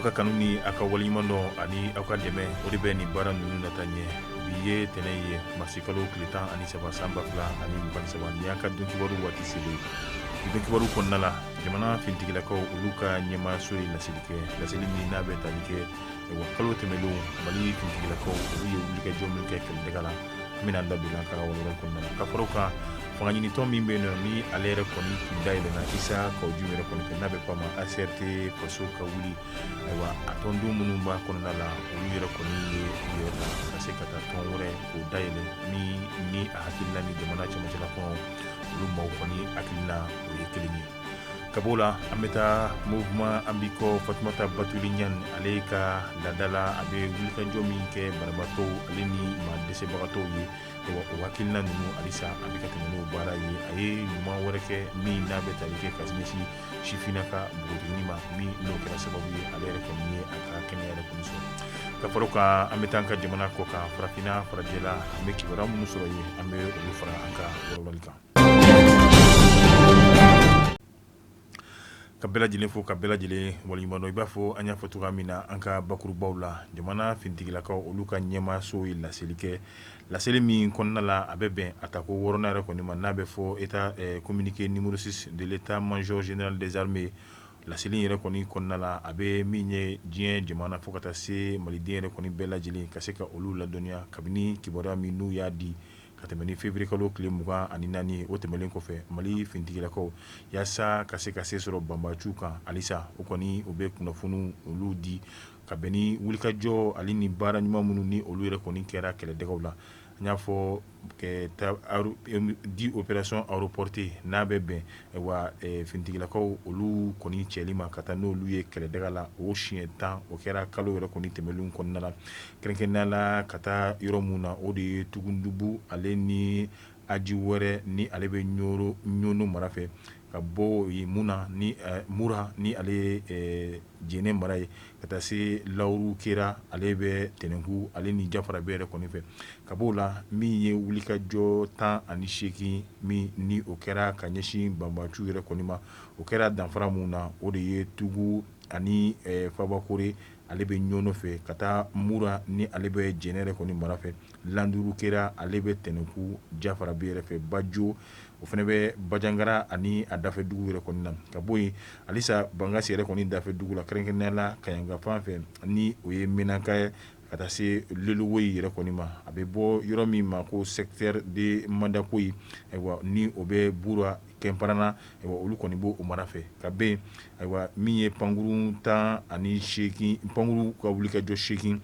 ka kanu ni a ka waleɲuman dɔn ani aw ka dɛmɛ o de bɛ nin baara ninnu nataa ɲɛ bi ye tɛnɛn ye masikalo tile tan ani saba san ba fila ani mugan ni saba ni y'an ka donkibaru waati selen ye donkibaru kɔnɔna la jamana fintigilakaw olu ka ɲɛmaayaso ye laseli kɛ laseli min n'a bɛ tali kɛ wa kalo tɛmɛnlenw mali fintigilakaw olu ye wulikajɔ min kɛ kɛlɛdaga la an bɛna da don an ka walawala kɔnɔna na ka fara o kan fangaɲinitɔn min bɛ yen nɔ ni ale yɛrɛ kɔni tun dayɛlɛnna isa kawu jimu yɛrɛ kɔni fɛ n'a bɛ fɔ a ma acrt faso ka wele ayiwa a tɔnden minnu b'a kɔnɔna la olu yɛrɛ kɔni ye u yɛrɛ ta ka se ka taa tɔn wɛrɛ k'o dayɛlɛ min ni a hakilina ni jamana cɛmancɛla kɔnɔ olu maaw kɔni hakilina o ye kelen ye ka b'o la an bɛ taa mouvement an b'i kɔ fatumata batuli ɲani ale ka laada la a bɛ wulikajɔ min kɛ banabaatɔw ale ni maa dɛsɛbagatɔw ye waatinin ninnu halisa a bɛ ka tɛmɛ n'o baara ye a ye ɲuman wɛrɛ kɛ min n'a bɛ tali kɛ ka ɲɛsin sifinnaka npogotiginin ma min n'o kɛra sababu ye ale yɛrɛ kɔni ye a ka kɛnɛya yɛrɛ kɔni sɔrɔ ka fara o kan an bɛ taa an ka jamana kɔkan farafinna farajɛla an bɛ kibaruya minnu sɔrɔ yen an bɛ olu fara an ka walawalali kan Ka bɛɛ lajɛlen fo ka bɛɛ lajɛlen waleɲumandɔn i b'a fɔ an y'a fɔ cogoya min na an ka bakurubaw la jamana fintigilakaw olu ka ɲɛmaaso ye laseli kɛ laseli min kɔnɔna la a bɛ bɛn a tako wɔɔrɔnan yɛrɛ kɔni ma n'a bɛ fɔ état communiqué numéro six de l'état major général des armées laseli yɛrɛ kɔni kɔnɔna la a bɛ min ye diɲɛ jamana fo ka taa se maliden yɛrɛ kɔni bɛɛ lajɛlen ka se ka olu ladɔnniya kabini kibaruya min n'u y'a di ka tɛmɛ ni février kalo tile mugan ani naani ye o tɛmɛnen kɔfɛ mali fintigilakaw yaasa ka se ka se sɔrɔ banbaanciw kan halisa o kɔni u bɛ kunnafoniw olu di ka bɛn ni wulikajɔ ale ni baara ɲuman minnu ni olu yɛrɛ kɔni kɛra kɛlɛdagaw la n y'a fɔ dix opérations aéroportées n'a bɛ bɛn wa fintigilakaw olu kɔni cɛli ma ka taa n'olu ye kɛlɛdaga la o siɲɛ tan o kɛra kalo yɛrɛ kɔni tɛmɛlen kɔnɔna na kɛrɛnkɛrɛnnenya la ka taa yɔrɔ minnu na o de ye tugundubu ale ni aji wɛrɛ ni ale bɛ ɲɔnɔ mara fɛ ka bɔ yen muna ni mura ni ale Jɛnɛ mara ye ka taa se lauru kera ale bɛ tɛnɛnku ale ni jafarabɛ yɛrɛ kɔni fɛ ka bɔ o la min ye wulikajɔ tan ani seegin min ni o kɛra ka ɲɛsin banbaanciw yɛrɛ kɔni ma o kɛra danfara min na o de ye tugu ani fabakoro ale bɛ ɲɔnɔ fɛ ka taa mura ni ale bɛ jɛnɛ yɛrɛ kɔni mara fɛ lauru kera ale bɛ tɛnɛnku jafarabɛ yɛrɛ fɛ bajo o fana bɛ bajangara ani a dafɛ dugu yɛrɛ kɔni na ka bɔ yen halisa bangasi yɛrɛ kɔni dafɛ dugu la kɛrɛnkɛrɛnnenya la kaɲaga fan fɛ ni o ye Menaka ye ka taa se Lelewoyi yɛrɛ kɔni ma a bɛ fɔ yɔrɔ min ma ko secteur de Mandakoyi ayiwa ni o bɛ Bura Kɛnparana ayiwa olu kɔni b'o mara fɛ ka bɔ yen ayiwa min ye pankurun tan ani seegin pankurun ka wulikajɔ seegin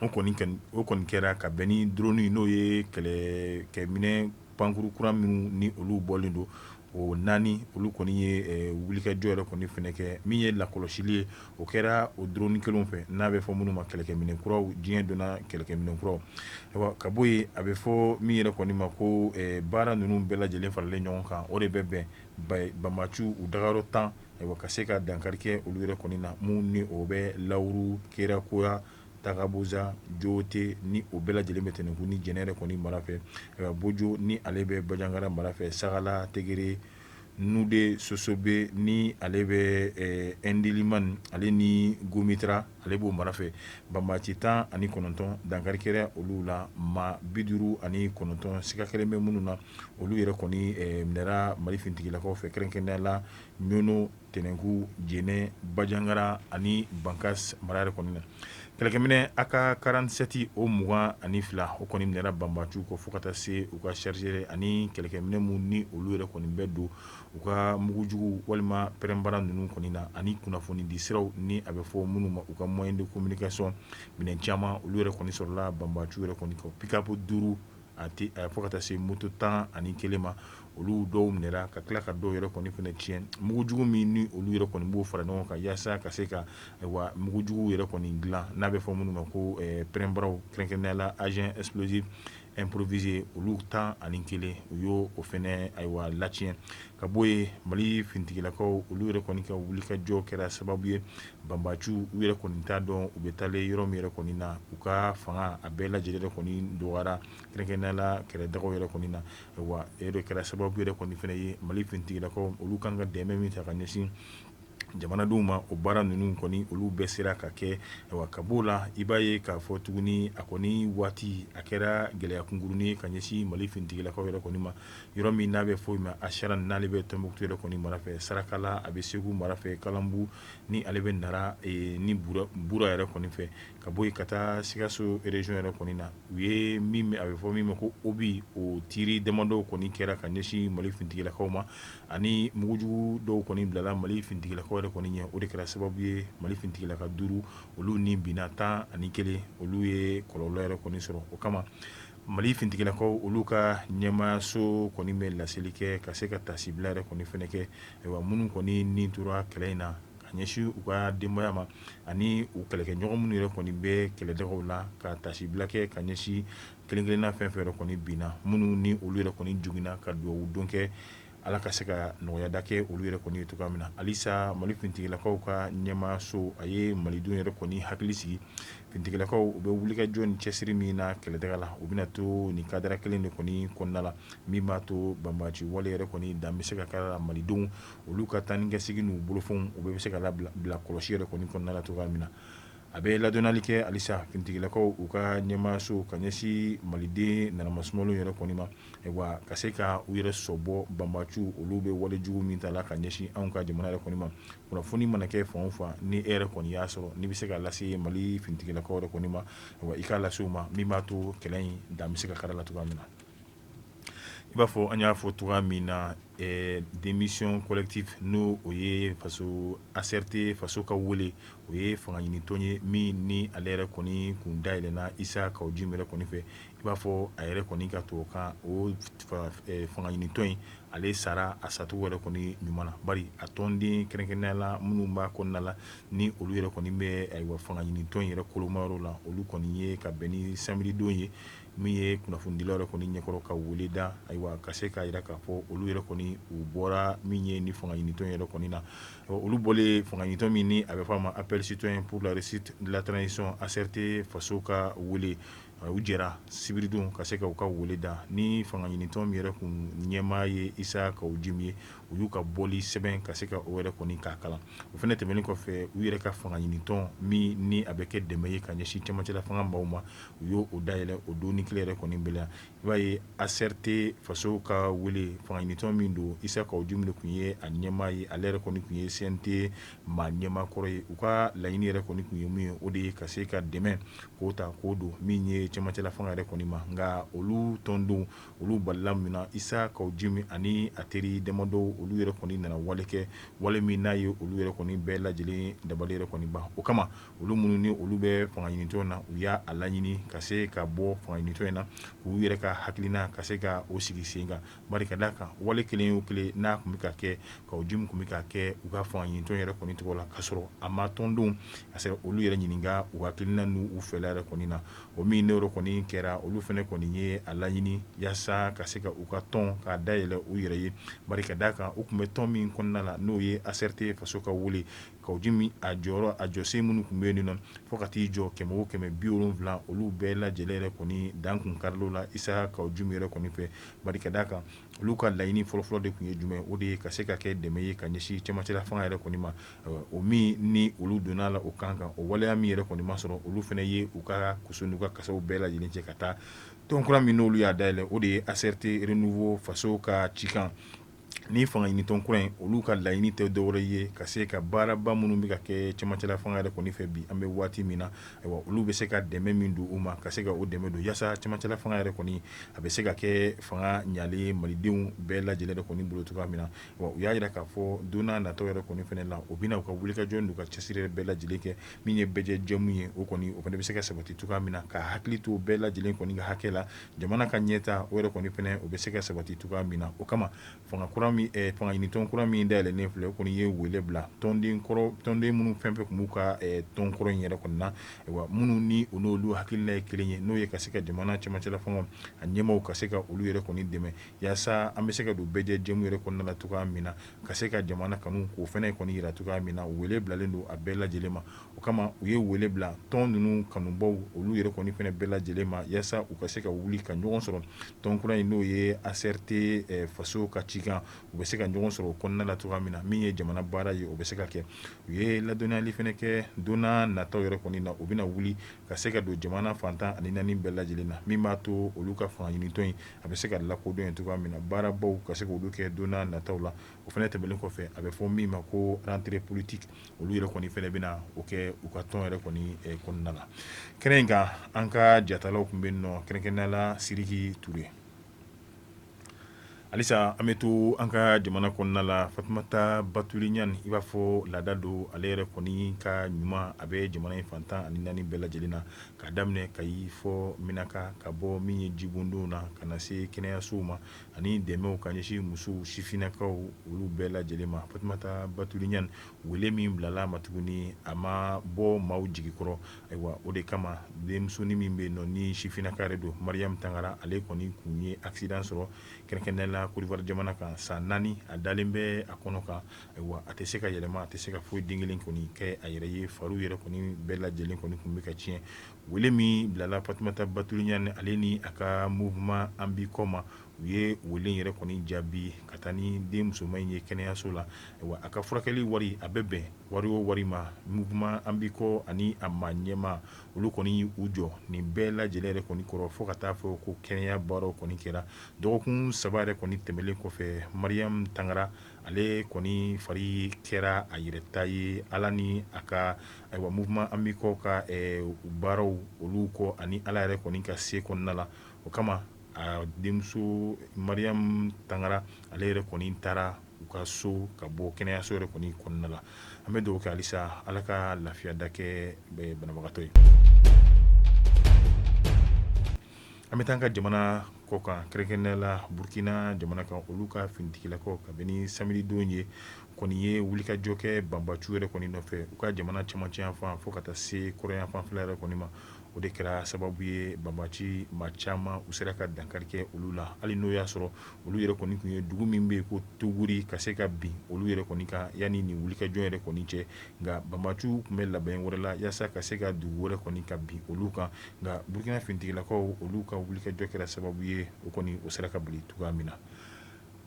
o kɔni kɛra ka bɛn ni drone n'o ye kɛlɛkɛminɛn pankurun kura minnu ni olu bɔlen don o naani olu kɔni ye wulikajɔ yɛrɛ kɔni fɛnɛ kɛ min ye lakɔlɔsili ye o kɛra o drone kelenw fɛ n'a bɛ fɔ minnu ma kɛlɛkɛminɛn kuraw diɲɛ donna kɛlɛkɛminɛn kuraw ka bɔ yen a bɛ fɔ min yɛrɛ kɔni ma ko baara ninnu bɛɛ lajɛlen faralen ɲɔgɔn kan o de bɛ bɛn banbaciw u dagayɔrɔ tan ka se ka dankari kɛ olu yɛrɛ kɔni na minnu ni o bɛ lauru kɛra koya Tagaboza Jote ni o bɛɛ lajɛlen bɛ tɛnɛnku ni jɛnɛ yɛrɛ kɔni mara fɛ bojo ni ale bɛ bajangara mara fɛ sagala tegere nude sosobe ni ale bɛ indeliman ale ni gomitra ale b'o mara fɛ banbaci tan ani kɔnɔntɔn dankari kɛra olu la maa bi duuru ani kɔnɔntɔn siga kɛlen bɛ minnu na olu yɛrɛ kɔni minɛra mali finitigilakaw fɛ kɛrɛnkɛrɛnnenya la ɲɔ tɛnɛnkun jɛnɛ bajangara ani bankasi mara yɛrɛ kɔni na kɛlɛkɛminɛ AK quarante-sept o mugan ani fila o kɔni minɛra banbaciw kɔ fo ka taa se u ka chargeur ani kɛlɛkɛminɛ minnu ni olu yɛrɛ kɔni bɛ don u ka mugujugu walima pɛrɛnbara ninnu kɔni na ani kunnafoni di siraw ni a bɛ fɔ minnu ma u ka moyen de communication minɛn caman olu yɛrɛ kɔni sɔrɔla banbaciw yɛrɛ kɔni kɔ pick-up duuru a a fo ka taa se moto tan ani kelen ma olu dɔw minɛra ka tila ka dɔw yɛrɛ kɔni fana tiɲɛ mugujugu min ni olu yɛrɛ kɔni b'o fara ɲɔgɔn kan yaasa ka se ka ayiwa mugujugu yɛrɛ kɔni dilan n'a bɛ fɔ minnu ma ko pɛrɛnbaraw kɛrɛnkɛrɛnnenya la engin explosif improvisé olu tan ani kelen u y'o fana ayiwa latiɲɛ ka bɔ yen mali finitigilakaw olu yɛrɛ kɔni ka wulikajɔ kɛra sababu ye banbaciw u yɛrɛ kɔni t'a dɔn u bɛ taalen yɔrɔ min yɛrɛ kɔni na u ka fanga a bɛɛ lajɛlen yɛrɛ kɔni dɔgɔyara kɛrɛnkɛrɛnnenya la kɛlɛdaw yɛrɛ kɔni na wa o de kɛra sababu yɛrɛ kɔni fana ye mali finitigilakaw olu kan ka dɛmɛ min ta ka ɲɛsin jamanadenw ma o baara ninnu kɔni olu bɛɛ sera ka kɛ ka bɔ o la i b'a ye k'a fɔ tuguni a kɔni waati a kɛra gɛlɛya kunkurunin ka ɲɛsin mali finitigilakaw yɛrɛ kɔni ma yɔrɔ min n'a bɛ fɔ ma Acharane n'ale bɛ Tɔnbukutu yɛrɛ kɔni mara fɛ sarakala a bɛ segu mara fɛ kalanbu ni ale bɛ nara ni bura yɛrɛ kɔni fɛ ka bɔ yen ka taa sikaso région yɛrɛ kɔni na u ye a bɛ fɔ min ma ko obus o tir damadɔw kɔni kɛra ka ɲɛsin mali finitigilakaw ma ani mugujugu dɔw kɔni bilala mali finitigilakaw yɛrɛ kɔni ɲɛ o de kɛra sababu ye mali finitigilaka duuru olu ni binna tan ani kelen olu ye kɔlɔlɔ yɛrɛ kɔni sɔrɔ o kama Mali finitigilakaw olu ka ɲɛmaayaso kɔni bɛ laseli kɛ ka se ka tasibila yɛrɛ kɔni fana kɛ wa minnu kɔni ni tora kɛlɛ in na ka ɲɛsin u ka denbaya ma ani u kɛlɛkɛɲɔgɔn minnu yɛrɛ kɔni bɛ kɛlɛdagaw la ka tasibila kɛ ka ɲɛsin kelen-kelenna fɛn o fɛn yɛrɛ kɔni binna minnu ni olu yɛrɛ kɔni joginna ka dugawu don kɛ Ala ka se ka nɔgɔyada kɛ olu yɛrɛ kɔni ye cogoya min na halisa mali finitigilakaw ka ɲɛmaayaso a ye malidenw yɛrɛ kɔni hakili sigi finitigilakaw u bɛ wulikajɔ ni cɛsiri min na kɛlɛdaga la u bɛna to nin kadara kelen de kɔni kɔnɔna la min b'a to banbaci wale yɛrɛ kɔni dan bɛ se ka kari la malidenw olu ka taa ni kasegin n'u bolofɛnw u bɛ se ka bila kɔlɔsi yɛrɛ kɔni kɔnɔna la cogoya min na a bɛ ladɔnnali kɛ halisa finitigilakaw u ka ɲɛmaayaso ka ɲɛsin maliden nanamasumalenw yɛrɛ kɔni ma wa ka se ka u yɛrɛ sɔbɔ banbaciw olu bɛ wale jugu min ta la ka ɲɛsin anw ka jamana yɛrɛ kɔni ma kunnafoni mana kɛ fan o fan ni e yɛrɛ kɔni y'a sɔrɔ n'i bɛ se k'a lase mali finitigilakaw yɛrɛ kɔni ma i k'a lase u ma min b'a to kɛlɛ in dan bɛ se ka kari la cogoya min na i b'a fɔ an y'a fɔ cogo min na démission collective n'o o ye faso ACRT faso ka wele o ye fanga ɲinitɔn ye min ni ale yɛrɛ kɔni kun dayɛlɛnna Isa Kawu Jimi yɛrɛ kɔni fɛ i b'a fɔ a yɛrɛ kɔni ka to ka o fanga ɲinitɔn in ale sara a sacogo yɛrɛ kɔni ɲuman bari a tɔnden kɛrɛnkɛrɛnnenya la minnu b'a kɔnɔna la ni olu yɛrɛ kɔni bɛ fanga ɲinitɔn in yɛrɛ kolomayɔrɔ la olu kɔni ye ka bɛn ni samedi don ye min ye kunnafonidilaw yɛrɛ kɔni ɲɛkɔrɔ ka weele da ayiwa ka se k'a jira k'a fɔ olu yɛrɛ kɔni u bɔra min ye ni fanga ɲinitɔn yɛrɛ kɔni na olu bɔlen fanga ɲinitɔn min a bɛ fɔ a ma appel citoyen pour la réussite de la transition ACRT faso ka weele u jɛra sibiridon ka se ka u ka weele da ni fanga ɲinitɔn min yɛrɛ kun ɲɛmaa ye Isa Kawu Jimi ye u y'u ka bɔli sɛbɛn ka se ka o yɛrɛ kɔni k'a kalan o fana tɛmɛnen kɔfɛ u yɛrɛ ka fanga ɲinitɔn min ni a bɛ kɛ dɛmɛ ye ka ɲɛsin camancɛla fanga maaw ma u y'o dayɛlɛ o don ni kile yɛrɛ kɔni bɛɛ la i b'a ye ACRT faso ka weele fanga ɲinitɔn min don Isa Kawu Jimi kun ye a ɲɛmaa ye ale yɛrɛ kɔni kun ye CNT maa ɲɛmaa kɔrɔ ye u ka laɲini yɛrɛ kɔni kun ye mun ye o de ye ka se ka dɛmɛ k'o ta k'o don min ye cɛmancɛla fanga yɛrɛ kɔni ma nka olu tɔndenw olu balila min na Isa Kawu Jimi ani a teri damadɔw olu yɛrɛ kɔni nana wale kɛ wale min n'a ye olu yɛrɛ kɔni bɛɛ lajɛlen dabali yɛrɛ kɔni ban o kama olu minnu ni olu bɛ fanga ɲinitɔn na u y'a laɲini ka se ka bɔ fanga ɲinitɔn in na k'u yɛrɛ ka hakilina ka se ka o sigi sen kan Bari ka d'a kan wale kelen o kelen n'a kun bɛ ka kɛ Kawu Jimi kun bɛ ka kɛ u ka fanga ɲinitɔn yɛrɛ kɔni tɔgɔ la ka sɔrɔ a ma tɔndenw ka se olu yɛrɛ ɲininka u hakilina n'u fɛla yɛrɛ kɔni na o min ne yɛrɛ kɔni kɛra olu fana kɔni ye a laɲini yaasa ka se ka u ka tɔn k'a dayɛlɛ u yɛrɛ ye bari ka d'a kan u kun bɛ tɔn min kɔnɔna la n'o ye ACRT faso ka wele Kawujimi a jɔsen minnu kun bɛ yen nɔ fo ka t'i jɔ kɛmɛ ni bi wolonwula olu bɛɛ lajɛlen yɛrɛ kɔni dan kun karil'o la Isa Kawujimi yɛrɛ kɔni fɛ bari ka d'a kan olu ka laɲini fɔlɔfɔlɔ de kun ye jumɛn o de ye ka se ka kɛ dɛmɛ ye ka ɲɛsin camancɛla fanga yɛrɛ kɔni ma o min ni olu donna a la o kan kan o waleya min yɛrɛ kɔni ma sɔrɔ olu fana ye u ka kuso n'u ka kasaw bɛɛ lajɛlen cɛ ka taa tɔn kura min n'olu y'a dayɛlɛ o de ye ACRT renouveau faso ka cikan ni fanga ɲinitɔn kura in olu ka laɲini tɛ dɔwɛrɛ ye ka se ka baaraba minnu bɛ ka kɛ camancɛla fanga yɛrɛ kɔni fɛ bi an bɛ waati min na ayiwa olu bɛ se ka dɛmɛ min don u ma ka se ka o dɛmɛ don yaasa camancɛla fanga yɛrɛ kɔni a bɛ se ka kɛ fanga ɲalen malidenw bɛɛ lajɛlen kɔni bolo cogoya min na u y'a jira k'a fɔ don nataw yɛrɛ kɔni fana la u bɛna u ka wulikajɔ n'u ka cɛsiri bɛɛ lajɛlen kɛ min ye bɛɛ jɛmu ye o kɔni o fana bɛ se ka sabati cogoya min na ka hakili to bɛɛ lajɛlen kɔni ka hakɛ la jamana ka ɲɛtaa o yɛrɛ kɔni fana o bɛ se ka sabati cogoya min na o kama fanga ɲinitɔn kura min dayɛlɛnnen filɛ o kɔni ye wele bila tɔnden minnu fɛn fɛn kun b'u ka tɔn kɔrɔ in yɛrɛ kɔnɔna na wa minnu ni u n'olu hakilila ye kelen ye n'o ye ka se ka jamana camancɛla fanga a ɲɛmaaw ka se ka olu yɛrɛ kɔni dɛmɛ yaasa an bɛ se ka don bɛɛ jɛmu yɛrɛ kɔnɔna na cogoya min na ka se ka jamana kanu k'o fana kɔni jira cogoya min na wele bilalen don a bɛɛ lajɛlen ma o kama u ye wele bila tɔn ninnu kanubaw olu yɛrɛ kɔni fana bɛɛ lajɛlen ma yaasa u ka se ka wuli ka ɲɔgɔn sɔrɔ tɔn kura in n'o ye ACRT faso ka cikan u bɛ se ka ɲɔgɔn sɔrɔ o kɔnɔna na cogoya min na min ye jamana baara ye o bɛ se ka kɛ u ye ladɔnniyali fana kɛ don nataw yɛrɛ kɔni na u bɛna wuli ka se ka don jamana fan tan ani naani bɛɛ lajɛlen na min b'a to olu ka fanga ɲinitɔn in a bɛ se ka lakodɔn cogoya min na baarabaw ka se k'olu kɛ don nataw la o fana tɛmɛnen kɔfɛ a bɛ fɔ min ma ko rentrée politique olu yɛrɛ kɔni fana bɛna o kɛ u ka tɔn yɛrɛ kɔni kɔnɔna la kɛnɛ in kan an ka jatalaw kun bɛ yen nɔ kɛrɛnkɛrɛnnenya la Sidiki Ture halisa an bɛ to an ka jamana kɔnɔna la Fatumata Batuli Ɲani i b'a fɔ laada don ale yɛrɛ kɔni ka ɲuman a bɛ jamana in fan tan ani naani bɛɛ lajɛlen na k'a daminɛ Kayi fo Menaka ka bɔ min ye jibondonw na ka na se kɛnɛyasow ma ani dɛmɛw ka ɲɛsin musow sifinnakaw olu bɛɛ lajɛlen ma Fatumata Batuli Ɲani wele min bilal'a ma tuguni a ma bɔ maaw jigi kɔrɔ ayiwa o de kama denmusonin min bɛ nɔ ni sifinnaka yɛrɛ don Mariam Tangara ale kɔni kun ye accident sɔrɔ kɛrɛnkɛrɛnnenya la Côte d'Ivoire jamana kan san naani a dalen bɛ a kɔnɔ kan ayiwa a tɛ se ka yɛlɛma a tɛ se ka foyi den kelen kɔni kɛ a yɛrɛ ye fari yɛrɛ kɔni bɛɛ lajɛlen kɔni kun bɛ ka tiɲɛ Wele min bilala fatumata batuli ɲani ale ni a ka mouvement an b'i kɔ ma u ye wele yɛrɛ kɔni jaabi ka taa ni den musoman in ye kɛnɛyaso la ayiwa a ka furakɛli wari a bɛ bɛn wari o wari ma mouvement an b'i kɔ ani a ma ɲɛma olu kɔni y'u jɔ nin bɛɛ lajɛlen yɛrɛ kɔni kɔrɔ fo ka taa fɔ ko kɛnɛya baara kɔni kɛra dɔgɔkun saba yɛrɛ kɔni tɛmɛnen kɔfɛ mariam tangara ale kɔni fari kɛra a yɛrɛ ta ye ala ni a ka Ayiwa mouvement an b'i kɔ ka baaraw olu kɔ ani ala yɛrɛ kɔni ka se kɔnɔna la o kama a denmuso mariam tangara ale yɛrɛ kɔni taara u ka so ka bɔ kɛnɛyaso yɛrɛ kɔni kɔnɔna la an bɛ dugawu kɛ halisa ala ka lafiya da kɛ banabagatɔ ye An bɛ taa an ka jamana kɔ kan kɛrɛnkɛrɛnnenya la burukina jamana kan olu ka finitigilakaw kabini samedi don ye kɔni ye wulikajɔ kɛ banbaciw yɛrɛ kɔni nɔfɛ u ka jamana camancɛ yanfan fo ka taa se kɔrɔn yanfan fɛla yɛrɛ kɔni ma o de kɛra sababu ye banbaci maa caman u sera ka dankari kɛ olu la hali n'o y'a sɔrɔ olu yɛrɛ kɔni tun ye dugu min bɛ yen ko tuguri ka se ka bin olu yɛrɛ kɔni kan yanni nin wulikajɔ yɛrɛ kɔni cɛ nka banbaciw tun bɛ labɛn wɛrɛ la yaasa ka se ka dugu wɛrɛ kɔni ka bin olu kan nka burukina finitigilakaw olu ka wulikajɔ kɛra sababu ye o kɔni o sera ka bali cogoya min na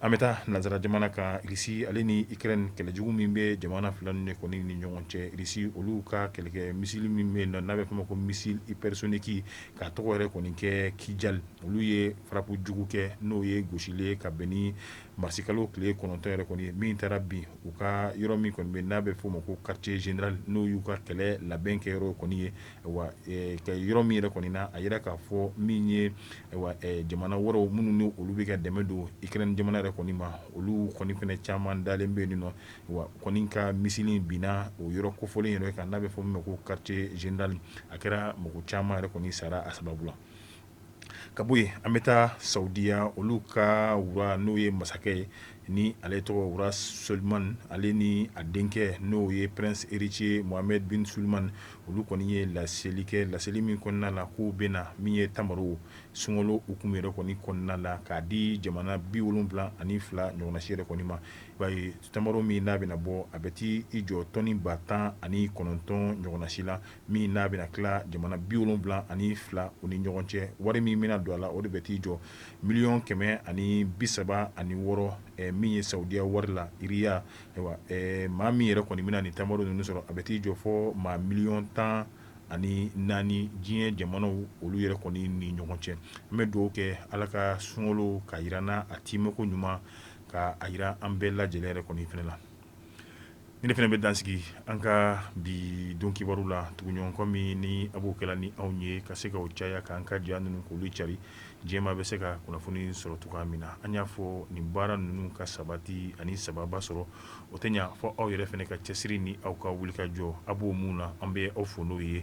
an bɛ taa nansara jamana kan rusi ale ni ukraine kɛlɛjugu min bɛ jamana fila ninnu kɔni ni ɲɔgɔn cɛ rusi olu ka kɛlɛkɛ misili min bɛ yen n'a bɛ fɔ o ma ko missile hypersonique K'a tɔgɔ yɛrɛ kɔni kɛ kijal olu ye frappe jugu kɛ n'o ye gosili ye ka bɛn ni marisikalo tile kɔnɔntɔn yɛrɛ kɔni ye min taara bin u ka yɔrɔ min kɔni bɛ n'a bɛ f'o ma ko quartier général n'o y'u ka kɛlɛ labɛn kɛ yɔrɔ kɔni ye u ka yɔrɔ min yɛrɛ kɔni na a yira k'a fɔ min ye jamana wɛrɛ minnu ni olu bɛ ka dɛmɛ don ukraine jamana yɛrɛ kɔni ma olu kɔni fɛnɛ caman dalen bɛ yen nɔ wa kɔni ka misili binna o yɔrɔ kofɔlen yɛrɛ kan n'a bɛ fɔ o ma ko quartier général a kɛra mɔgɔ caman yɛrɛ kɔni sara a sababu la ka bɔ yen an bɛ taa saudiya olu ka roi n'o ye masakɛ ye ni ale tɔgɔ roi salman ale ni a denkɛ n'o ye prince héritier mohamed bin salman olu kɔni ye laseli kɛ laseli min kɔnɔna na k'u bɛ na min ye tamaro sunkalo hukumu yɛrɛ kɔni kɔnɔna la k'a di jamana bi wolonwula ani fila ɲɔgɔnna si yɛrɛ kɔni ma b'a ye tamaro min n'a bɛna bɔ a bɛ taa i jɔ tɔni ba tan ani kɔnɔntɔn ɲɔgɔnna si la min n'a bɛna tila jamana bi wolonwula ani fila u ni ɲɔgɔn cɛ wari min bɛna don a la o de bɛ t'i jɔ miliyɔn kɛmɛ ani bi saba ani wɔɔrɔ min ye saudiya wari la riyal maa min yɛrɛ kɔni bɛna nin tamaro ninnu sɔrɔ a bɛ t'i jɔ fo maa miliyɔn tan ani naani diɲɛ jamanaw olu yɛrɛ kɔni ni ɲɔgɔn cɛ an bɛ dugawu kɛ ala ka sunkalo ka jira an na a cogo ɲuman Ka a jira an bɛɛ lajɛlen yɛrɛ kɔni fana la nin de fana bɛ dan sigi an ka bi don kibaru la tuguɲɔgɔnkɔ min ni a b'o kɛla ni anw ye ka se ka o caya k'an ka jiya ninnu k'olu cari jama bɛ se ka kunnafoni sɔrɔ cogoya min na an y'a fɔ nin baara ninnu ka sabati ani sababa sɔrɔ o tɛ ɲa fo aw yɛrɛ fana ka cɛsiri ni aw ka wuli ka jɔ a b'o min na an bɛ aw fo n'o ye